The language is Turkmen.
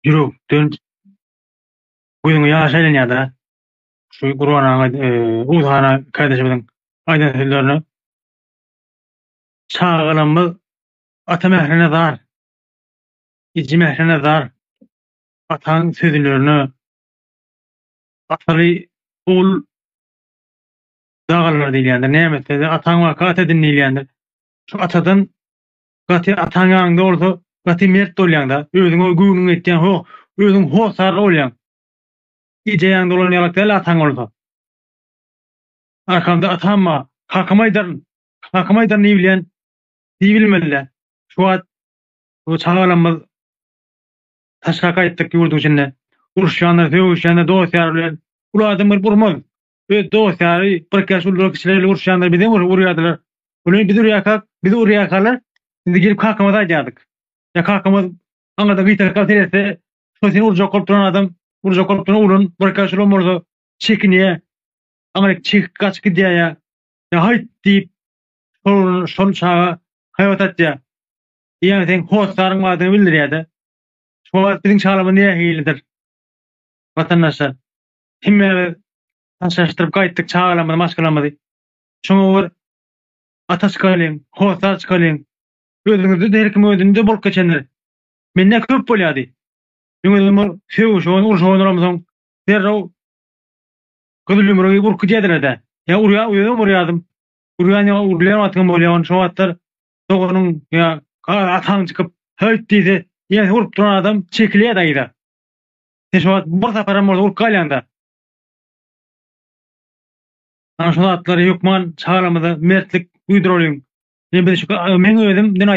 ýürekden gözüňe ýaş aýlanýardyr-a. Şu Gurban aga, Oguz han kardeşimiziň aýdan sözlerine Çagalarymyz ata mährine zar, eje mährine zar, ataň sözlerine ataly ogul dagalar diýilýändir. Näme etse-de, ataň waka ata edin diýilýändir. Şu atadan Gaty ataň ýanyňda bolsa gaty mert bolýaňda özüňe göwnüň ýetýän ho özüň hossarly bolýaň eje ýanyňda bolan ýalak däl ataň bolsa arkamda atam bar hakymy aýdaryn hakymy aýdaryn diýbilýän diýbilmelidä şu wagt bu çagalarymyz taşga gaýtdyk ýurduň içinde uruşýanlar sögüşýänler dost ýar bilen uly adam gelip urmaz öz dost ýary birkaç ullaryň kiçileri ile uruşýanlar bizem urýardylar uly biz urýarkak bizi urýarkalar biz gidip kakamaza aýdýardyk ýa kakamyz aňyrdan gyýtarka seretse şo seni urjak bolup duran adam urjak bolup duran ulan birkaç ulan bolsa çekinýä aňryk çekip gaçyp gidýä ýa ýa haýt diýip şol şol çaga haýbat atýa diýýän sen hossaryn badyny bildirýäde şo wagt biziň çalymyz nähilidir watandaşlar Hemmämiz taşlaşdyryp gaýtdyk çagalarymyzy, maşgalamyzy. Şoňa bir ata çykalyň, hossar çykalyň. Özüňizde-de her kim özünde bolup geçendir. Mende köp bolýardy. Öňeden bir sögüşen, urşan olamsoň, derrew gyzylýumrugy urky diýerdiler-dä. Ýa urýar, özüm urýardym. Urýan ýa urulýan wagtyňam bolýar. Ony şo wagtlar doganyň ýa ataň çykyp, Höýt diýse, ýene urup duran adam çekilýärdi yza. Sen şo bir saparam bolsa urup galýanda. Ana şu zatlary hökman çagalarymyza mertlik duýduralyň. Men biz şu men özüm dün